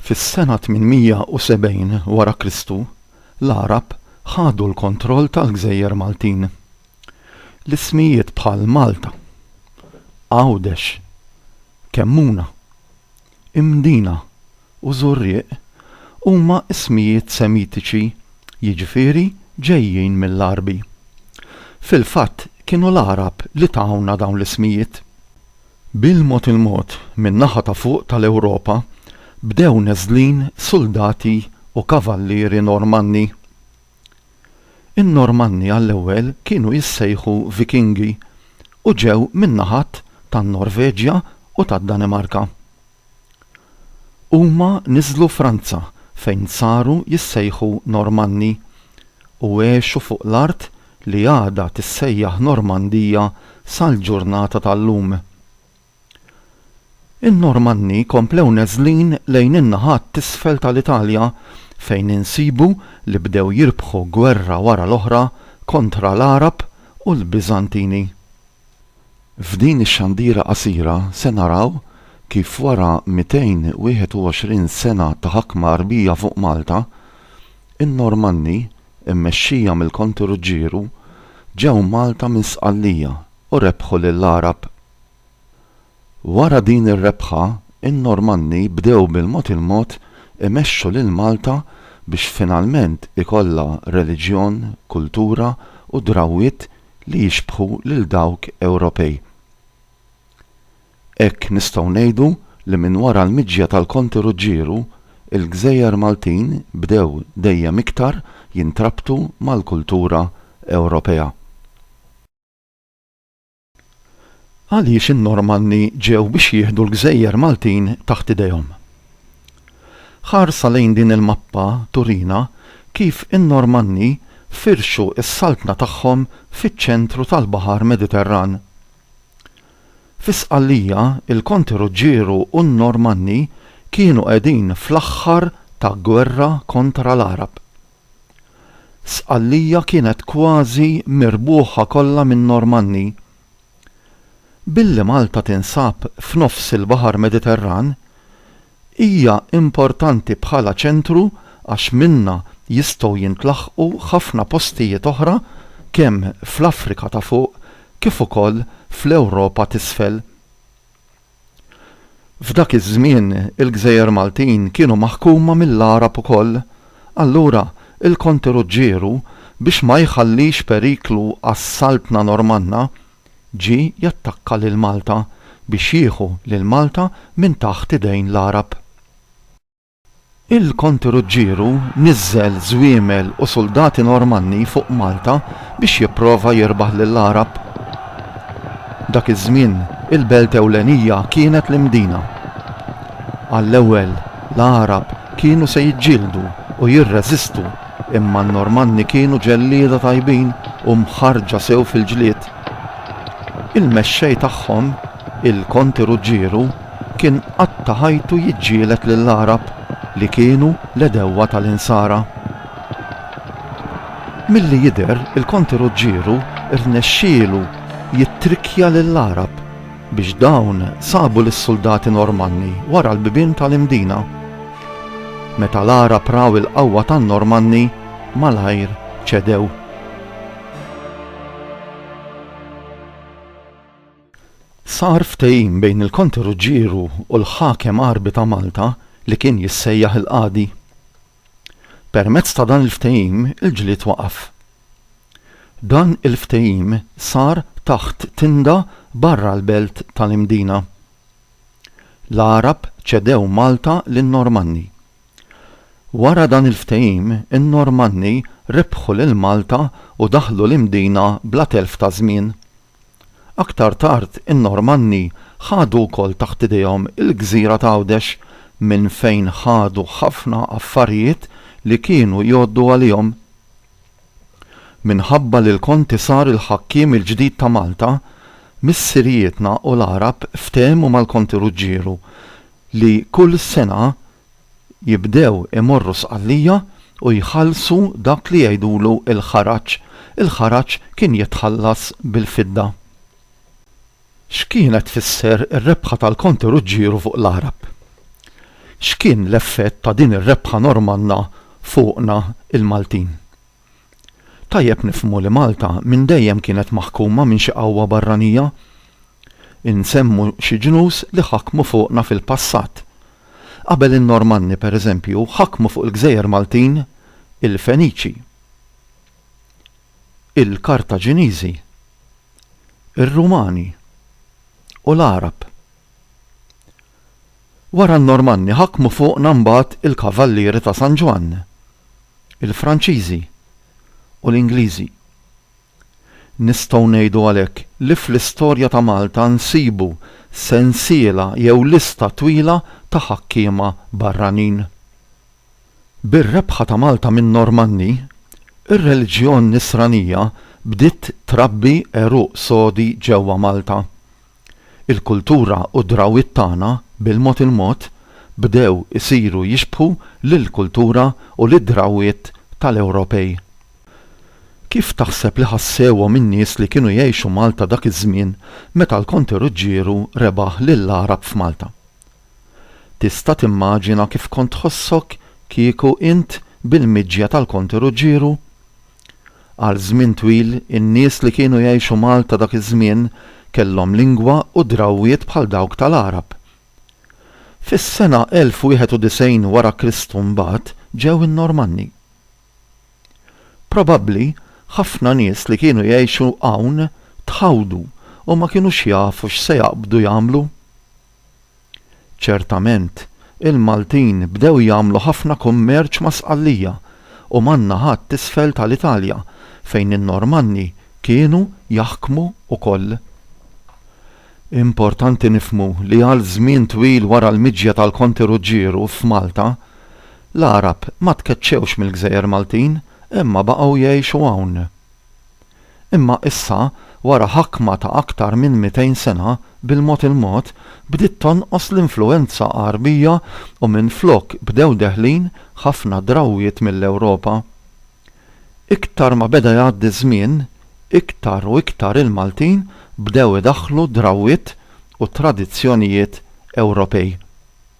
Fis-sena 870 wara Kristu, l-Għarab ħadu l-kontroll tal-gżejjer Maltin. L-ismijiet bħal Malta, Għawdex, Kemmuna, Imdina, u Żurrieq huma ismijiet Semitiċi, jiġifieri ġejjin mill-Għarbi. Fil-fatt kienu l-Għarab li tawna dawn l-ismijiet. Bil-mod il-mod min-naħa ta' fuq tal-Ewropa bdew neżlin suldati u kavallieri Normanni. In-Normanni għall-ewwel kienu jissejħu Vikingi u ġew min-naħat tan-Norveġja u tad-Danimarka. Huma niżlu Franza fejn saru jissejħu Normanni u għexu fuq l-art li għadha tissejjaħ Normandija sal-ġurnata tal-lum. In-Normanni komplew neżlin lejn in-naħat t'isfel tal-Italja fejn insibu li bdew jirbħu gwerra wara l-oħra kontra l-Għarab u l-Biżantini. F'din ix-xandira qasira se naraw kif wara 221 sena ta' ħakma Għarbija fuq Malta, in-Normanni, immexxija mill-Konti Ruġġieru, ġew Malta minn Sqallija u rebħu lill-Għarab. Wara din ir-rebħa, in-Normanni bdew bil-mod il-mod imexxu lil Malta biex finalment ikollha reliġjon, kultura u drawwiet li jixbħu lil dawk Ewropej. Hekk nistgħu ngħidu li minn wara l-miġja tal-Konti Ruġġieru, il-gżejjer Maltin bdew dejjem iktar jintrabtu mal-kultura Ewropea. Għaliex in-Normanni ġew biex jieħdu l-gżejjer Maltin taħt idejhom? Ħarsa lejn din il-mappa turina kif in-Normanni firxu s-saltna tagħhom fiċ-ċentru tal-Baħar Mediterran. Fi Sqallija, il-Konti Ruġġieru u n-Normanni kienu qegħdin fl-aħħar ta' gwerra kontra l-Għarab. Sqallija kienet kważi mirbuħa kollha min-Normanni. Billi Malta tinsab f'nofs il-Baħar Mediterran, hija importanti bħala ċentru għax minnha jistgħu jintlaħqu ħafna postijiet oħra kemm fl-Afrika ta' Fuq kif ukoll fl-Ewropa t'Isfel. F'dak iż-żmien il-gżejjer Maltin kienu maħkuma mill-Għarab ukoll, allura il-Konti Ruġġieru biex ma jħallix periklu għas-Saltna Normanna, ġie jattakka lil Malta biex jieħu lil Malta minn taħt idejn l-Għarab. Il-Konti Ruġġieru niżżel żwiemel u suldati Normanni fuq Malta biex jipprova jirbaħ lill-Għarab. Dak iż-żmien, il-belt ewlenija kienet l-Imdina. Għall-ewwel, l-Għarab kienu se jiġġieldu u jirreżistu imma n-Normanni kienu ġellieda tajbin u mħarrġa sew fil-ġlied. Il-mexxej tagħhom, il-Konti Ruġġieru, kien qatta' ħajtu jiġġieled lill-Għarab li kienu l-għedewwa tal-Insara. Milli jidher il-Konti Ruġġieru rnexxielu jittrikkja lill-Għarab biex dawn sabu lis-suldati Normanni wara l-bibien tal-Imdina. Meta l-Għarab raw il-qawwa tan-Normanni malajr ċedew. Sar ftehim bejn il-Konte Ruġġieru u l-Ħakem Għarbi ta' Malta li kien jissejjaħ il-Qadi. Permezz ta' dan il-ftehim il-ġlied waqaf. Dan il-ftehim sar taħt tinda barra l-belt tal-Imdina. L-Għarab ċedew Malta lin-Normanni. Wara dan il-ftehim in-Normanni rebħu lil Malta u daħlu l-Imdina bla telf ta' żmien. Aktar tard in-Normanni ħadu wkoll taħt idejhom il-gżira ta' Għawdex minn fejn ħadu ħafna affarijiet li kienu jgħoddu għalihom. Minħabba li l-Konti sar il-ħakkiem il-ġdid ta' Malta, missirijietna u l-Għarab ftehmu mal-Konti Ruġġieru li kull sena jibdew imorru Sqallija u jħallsu dak li jgħidulu l-ħaraġ, il-ħaraġ kien jitħallas bil-fidda. X'kienet tfisser ir-rebħa tal-Konti Ruġġieru fuq l-Għarab? X'kien l-effett ta' din ir-rebħa Normanna fuqna l-Maltin? Tajjeb nifhmu li Malta minn dejjem kienet maħkuma minn xi qawwa barranija. Insemmu xi ġnus li ħakmu fuqna fil-passat. Qabel in-Normanni, per eżempju, ħakmu fuq il-gżejjer Maltin il-Feniċi, il-Kartaġiniżi, ir-Rumani u l-Għarab. Wara n-Normanni ħakmu fuqna mbagħad il-Kavallieri ta' San Ġwann, il-Franċiżi u l-Ingliżi. Nistgħu ngħidu għalhekk li fl-istorja ta' Malta nsibu sensiela jew lista twila ta' ħakkiema barranin. Bir-rebħa ta' Malta min-Normanni, ir-reliġjon Nisranija bdiet trabbi għeruq sodi ġewwa Malta. Il-kultura u d-drawwiet tagħna, bil-mod il-mod, bdew isiru jixbħu lill-kultura u lid-drawwiet tal-Ewropej. Kif taħseb li ħassewhom in-nies li kienu jgħixu Malta dak iż-żmien meta l-Konte Ruġġieru rebaħ lill-Għarab f'Malta? Tista' timmaġina kif kont tħossok kieku int bil-miġja tal-Konte Ruġġieru? Għal żmien twil, in-nies li kienu jgħixu Malta dak iż-żmien kellhom lingwa u drawwiet bħal dawk tal-Għarab. Fis-sena 1091 wara Kristu mbagħad ġew in-Normanni. Probabbli ħafna nies li kienu jgħixu hawn tħawdu u ma kinux jafu x'se jaqbdu jagħmlu. Ċertament, il-Maltin bdew jagħmlu ħafna kummerċ ma' Sqallija u man-naħat t'isfel tal-Italja fejn in-Normanni kienu jaħkmu wkoll. Importanti nifhmu li għal żmien twil wara l-miġja tal-Konti Ruġġieru f'Malta, l-Għarab ma tkeċċewx mill-gżejjer Maltin imma baqgħu jgħixu hawn. Imma issa, wara ħakma ta' aktar minn mitejn sena, bil-mod il-mod, bdiet tonqos l-influwenza Għarbija u minflok bdew deħlin ħafna drawwiet mill-Ewropa. Iktar ma beda jgħaddi ż-żmien, iktar u iktar il-Maltin bdew idaħħlu drawwiet u tradizzjonijiet Ewropej.